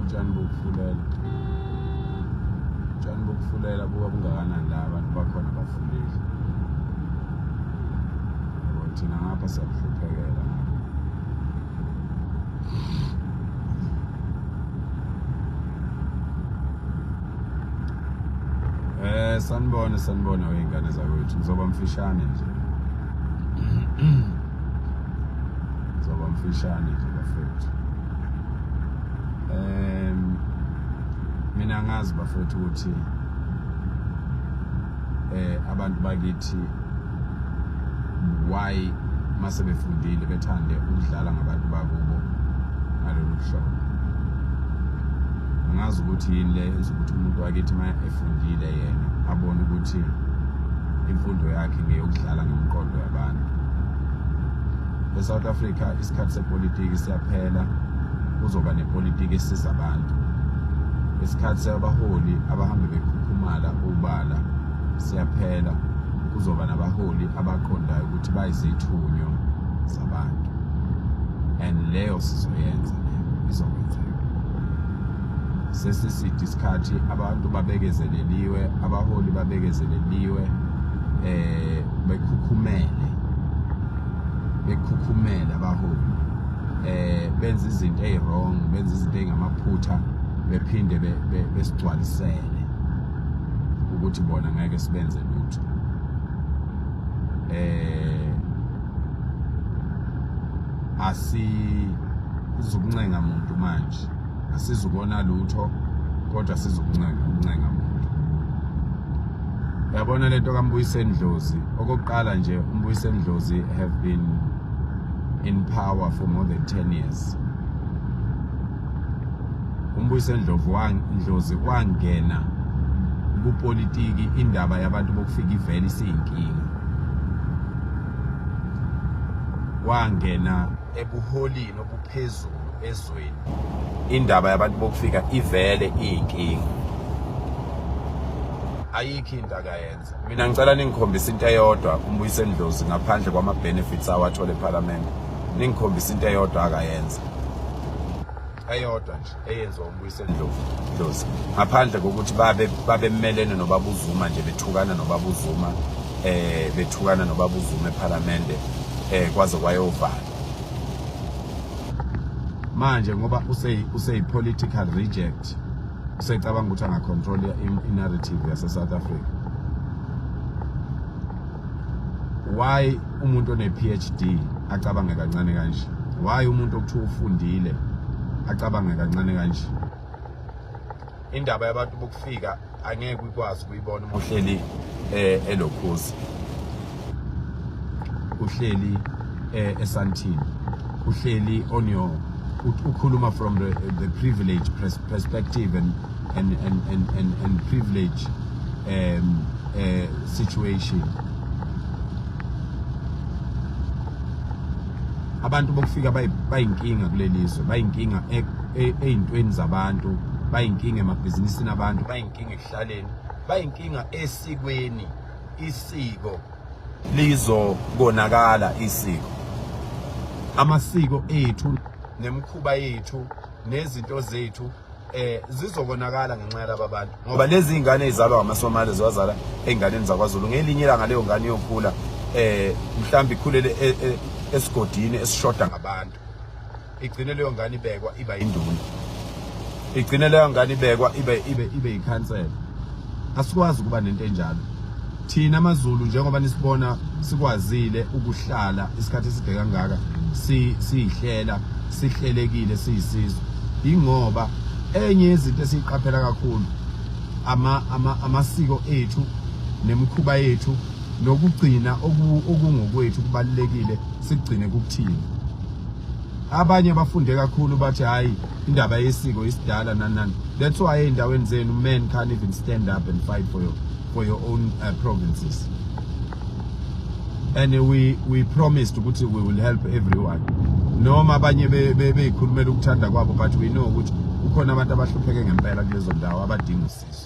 utshani bokufulela utshani bokufulela buka bungakanani la abantu bakhona bafulile yabo thina ngapha siyakuhluphekela Eh sanibona sanibona weyingane zakwethu ngizoba mfishane nje. Ngizoba mfishane nje bafethu. Ehm mina ngazi bafethu ukuthi eh abantu bakithi why mase befundile bethande ukudlala ngabantu bakubo ngalolu hlobo angazi ukuthi yini le enza ukuthi umuntu wakithi uma efundile yena abone ukuthi imfundo yakhe ngeyokudlala ngomqondo yabantu e-south africa isikhathi sepolitiki siyaphela kuzoba nepolitiki esiza abantu isikhathi sabaholi abahambe bekhukhumala ubala siyaphela kuzoba nabaholi abaqondayo ukuthi bayizithunywa zabantu and leyo sizoyenza leyo izokwenzeka sesiside isikhathi abantu babekezeleliwe abaholi babekezeleliwe eh bekhukhumele bekhukhumele abaholi eh benza izinto eziwrong benza izinto engamaphutha bephinde besigcwalisele ukuthi bona ngeke sibenze lutho eh asi izokuncenga muntu manje asizukona lutho kodwa sizokuncenga ukuncenga muntu yabona lento kambuyiseni dlozi okokuqala nje umbuyiseni dlozi have been in power for more than 10 years umbuyise ndlovu ndlozi wangena kupolitiki indaba yabantu bokufika ivele isiyinkinga wangena ebuholini obuphezulu ezweni indaba yabantu bokufika ivele iyinkinga ayikho into akayenza mina ngicela ningikhombise into eyodwa umbuyise ndlozi ngaphandle kwama benefits awathole eParliament ningikhombise into eyodwa akayenza eyodwa nje eyenziwa umbuyise ndlovu ndlozi ngaphandle kokuthi babe babemelene nobabuzuma nje bethukana nobabuzuma eh bethukana nobabuzuma eParliament eh kwaze kwayovala manje ngoba use use political reject usecabanga ukuthi angacontrol i-narrative yase-south africa why umuntu one-phd acabange kancane kanje why umuntu okuthiwa ufundile acabange kancane kanje indaba yabantu bokufika angeke ukwazi ukuyibona uma uhleli um elokhuzi uhleli eh, esantini uhleli on your ukhuluma from the, the privilege perspective and, and, and, and, and, and privilege um, uh, situation abantu bokufika bayinkinga kulelizwe bayinkinga e, e, eyintweni zabantu bayinkinga emabhizinisini abantu bayinkinga ekuhlaleni bayinkinga esikweni isiko lizokonakala isiko amasiko ethu nemikhuba yethu nezinto zethu eh zizokonakala ngenxa yalaba bantu ngoba lezi ingane ezalwa ngamasomali ziwazala einganeni zakwaZulu ngelinye ilanga leyo ngane yokhula eh mhlawumbe ikhulele e, e, esigodini esishoda ngabantu igcine leyo ngane ibekwa iba induna igcine leyo ngane ibekwa ibe ibe ibe yikhansela asikwazi ukuba nento enjalo thina amazulu njengoba nisibona sikwazile ukuhlala isikhathi eside kangaka si sihlela sihlelekile siyisizwe ingoba enye yezinto esiyiqaphela kakhulu ama ama amasiko ethu nemikhuba yethu nokugcina okungokwethu kubalekile sigcine kukuthini abanye bafunde kakhulu bathi hayi indaba yesiko isidala nanani that's why endaweni zenu men can't even stand up and fight for your, for your own uh, provinces and we we promised ukuthi we will help everyone noma abanye beyikhulumela ukuthanda kwabo but we know ukuthi kukhona abantu abahlupheke ngempela kulezo ndawo abadinga usizo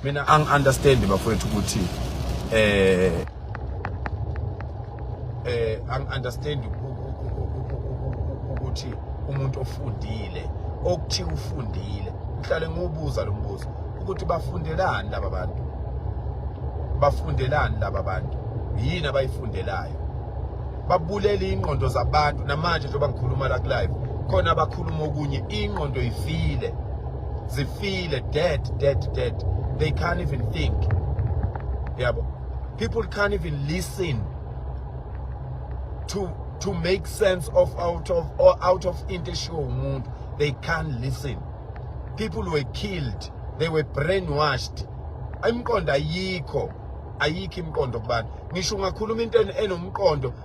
mina ang understand bafowethu ukuthi eh eh ang understand ukuthi umuntu ofundile okuthi ufundile ngihlale ngobuza lo mbuzo ukuthi bafundelani laba bantu bafundelani laba bantu yini abayifundelayo babulele ingqondo zabantu namanje njengoba ngikhuluma la ku live khona abakhuluma okunye ingqondo ifile zifile dead dead dead they can't even think yabo people can't even listen to to make sense of out of or out of into eshiwo umuntu they can't listen people were killed they were brainwashed imqondo ayikho ayikho imqondo kubantu ngisho ungakhuluma into enomqondo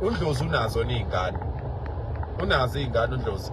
undlozi unazo niyingane unazo iyingane undlozi